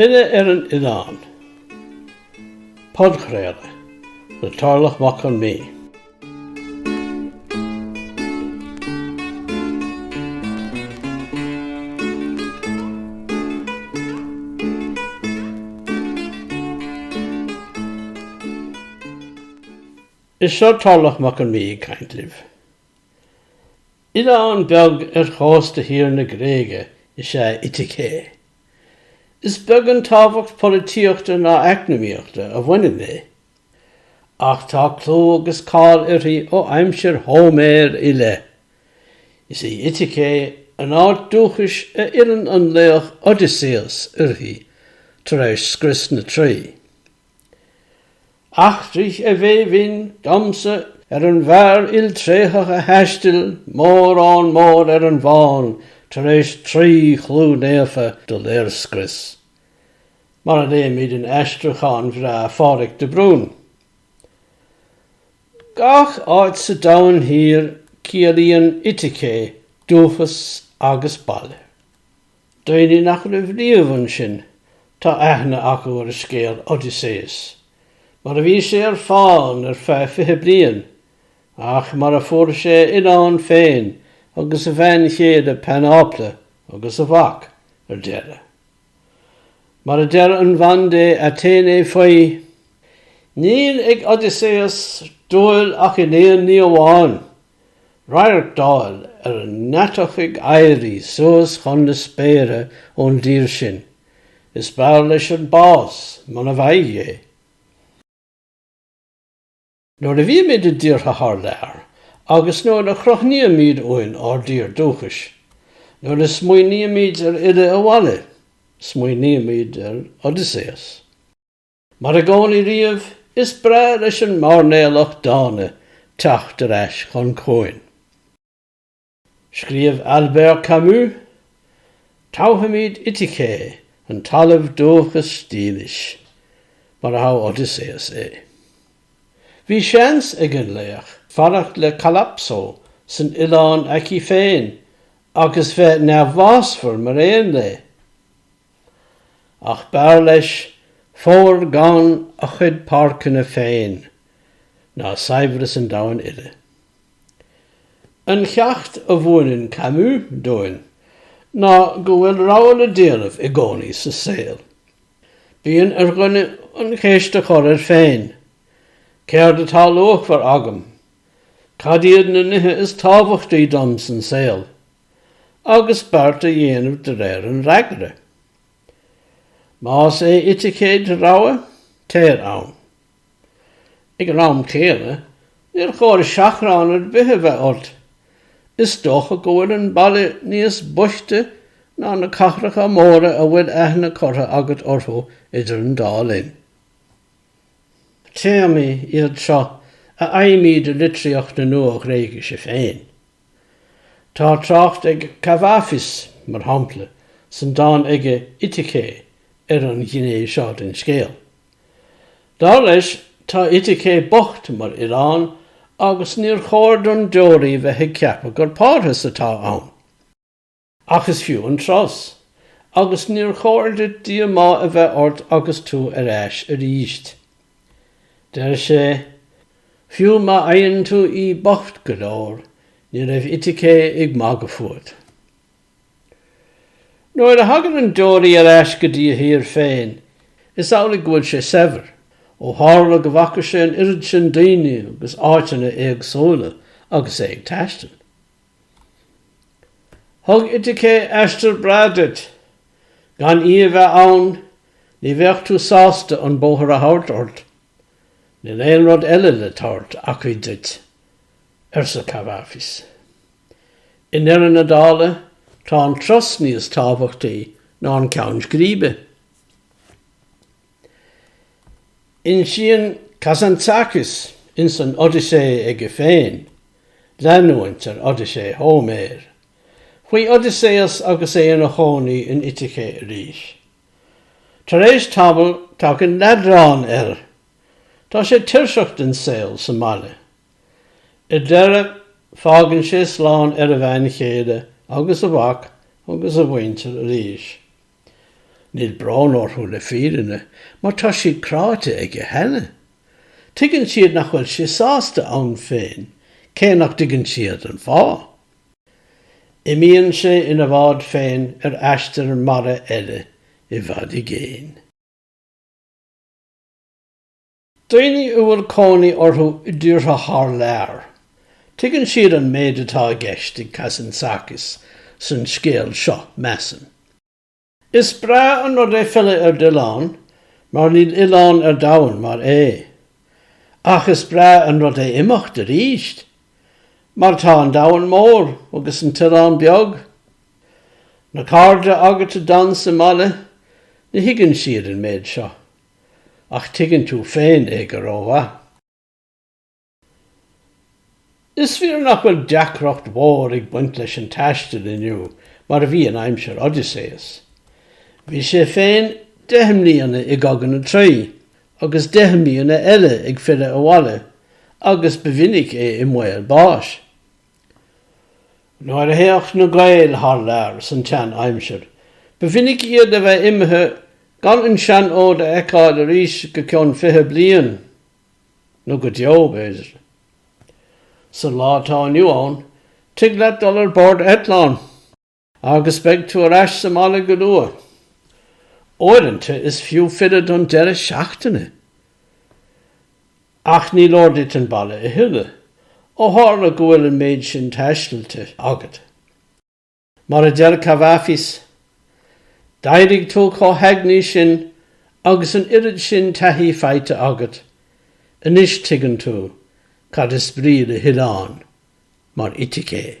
Filleadh ar an Oileán. Podchraoladh le Torlach Mac Con Midhe. Is seo Torlach Mac Con Midhe ag caint libh. Oileán beag ar chósta thiar na Gréige is ea Iticé. Is beag an tábhacht polaitíochta ná eacnamaíochta a bhaineann léi, ach tá clú agus cáil uirthi ó aimsir Hóiméir i leith. Is í Iticé an áit dúchais a fhilleann an laoch Odysseus uirthi tar éis scrios na Traí. Eachtraigh, a bhé bhinn, domsa ar an bhfear iltréitheach a thaistil mórán mór ar an bhfán tar éis Traoi chlú naofa do léirscrios. mar a léimid in aistriúchán bhreá Phádraig de Brún. Gach áit sa domhan thiar ciallaíonn Iticé dúchas agus baile. Daoine nach raibh riamh ansin, tá aithne acu ar scéal Odysseus, mar a bhí sé ar fán ar feadh fiche bliain, ach mar a fuair sé a oileán féin agus a bhean chéile Penelope agus a mhac ar deireadh. Mar a deir an bhandia Aitéiné faoi, Níl ag Odysseus dúil ach in aon ní amháin, radharc d'fháil ar an ndeatach ag éirí suas chun na spéire ón dtír sin, is b'fhearr leis an bás muna bhfaighidh é. Nuair a bhímid i dtíortha thar lear agus nuair a chrothnaímid uainn ár dtír dúchais, nuair a smaoinímid ar fhilleadh abhaile, smaoinímid ar Odysseus. Mar i gcónaí riamh, is breá leis an mairnéalach dána teacht ar ais chun cuain. Scríobh Albert Camus, Toghaimíd Iticé, an talamh dúchas dílis, mar a thogh Odysseus é. Bhí seans ag an laoch fanacht le Calypso san oileán aici féin agus bheith neamhbhásmhar mar aon léi. Ach b'fhearr leis fómhar gann a chuid páirceanna féin ná saibhreas an domhain uile. An ceacht a mhúineann Camus dúinn ná go bhfuil rogha le déanamh i gcónaí sa saol. Bíonn ar dhuine an cheist a chur air féin, Céard atá luachmhar agam? Cad iad na nithe is tábhachtaí dom san saol? agus beart a dhéanamh de réir an fhreagra. Más é Itake do rogha, téir ann. Ag an am céanna, níor chóir seachrán ar bith a bheith ort. Is dócha go bhfuil an baile níos boichte ná na cathracha móra a bhfuil aithne curtha agat orthu idir an dá linn. Téamaí iad seo a fhaighimid i litríocht na Nua-Ghréigise féin. Tá trácht ag Kavafis, mar shampla, san dán aige Itake ar an ghné seo den scéal. Dar leis, tá Itake bocht mar oileán agus níor chóir don deoraí bheith ag ceapadh gur parthas atá ann. Ach is fiú an turas, agus níor chóir duit díomá a bheith ort agus tú ar ais aríst. Deir sé, Fiú má fhaigheann tú í bocht go leor, ní raibh Itake ag magadh fút. Nuair a thagann an deoraí ar ais go dtí a thír féin, is amhlaidh go bhfuil sé saibhir, ó tharla go bhfaca sé an oiread sin daoine agus áiteanna éagsúla agus é ag taisteal. Thug Itake aistear breá duit. Gan í a bheith ann, ní bheadh tú sásta an bóthar a thabhairt ort. Níl aon rud eile le tabhairt aici duit, arsa Kavafis. I ndeireadh na dála, tá an turas níos tábhachtaí ná an ceann scríbe. Insíonn Kazantzakis ins an Odyssey aige féin, leanúint ar Odyssey Hóiméir, faoi Odysseus agus é ina chónaí in Itake arís. Tar éis tamaill, tagann leadrán air. Tá sé tuirseach den saol sa mbaile. I ndeireadh, fágann sé slán ar a bhean chéile agus a mhac agus a mhuintir arís. Níl brón orthu le fírinne mar tá siad cráite aige cheana. Tuigeann siad nach bhfuil sé sásta ann féin, cé nach dtuigeann siad an fáth. Imíonn sé ina bhád féin ar aistear mara eile, i bhfad i gcéin. Daoine a bhfuil cónaí orthu i dtíortha thar lear, tuigeann siad an méid atá i gceist ag Kazantzakis san scéal seo, measaim. Is breá an rud é filleadh ar d'oileán, mar níl oileán ar domhan mar é. Ach is breá an rud é imeacht arís, mar tá an domhan mór agus an t-oileán beag. Na cairde agat a d'fhan sa mbaile, ní thuigeann siad an méid seo. Ach tuigeann tú féin é go rómhaith. Is fíor nach bhfuil deacracht mhór ag baint leis an taisteal inniu mar a bhí in aimsir Odysseus. Bhí sé féin deich mbliana i gCogadh na Traí agus deich mbliana eile ag filleadh abhaile agus ba mhinic é i mbaol báis. Nuair a théadh na Gaeil thar lear san tseanaimsir, ba mhinic iad a bheith imithe gan an seanfhód a fheiceáil arís go ceann fiche bliain, nó go deo, b'fhéidir. Sa lá atá inniu ann, tig leat dul ar bord eitleán. Agus beidh tú ar ais sa mbaile go luath. Uaireanta is fiú filleadh don deireadh seachtaine. Ach ní leor duit an baile a thuilleadh, ó tharla go bhfuil an méid sin taistealte agat. Mar a deir Cavafis, D'éirigh tú chomh heagnaí sin agus an oiread sin taithí faighte agat, anois tuigeann tú cad is brí le hoileán mar Ithaca.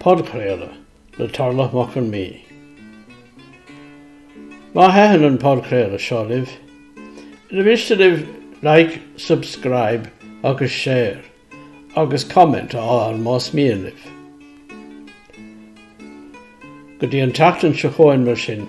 Podchraoladh le Torlach Mac Con Midhe. Má thaitin an podchraoladh seo libh, ar mhiste libh Like, Subscribe agus Share agus Comment a fháil más mian libh? Go dtí an tseachtain seo chugainn mar sin.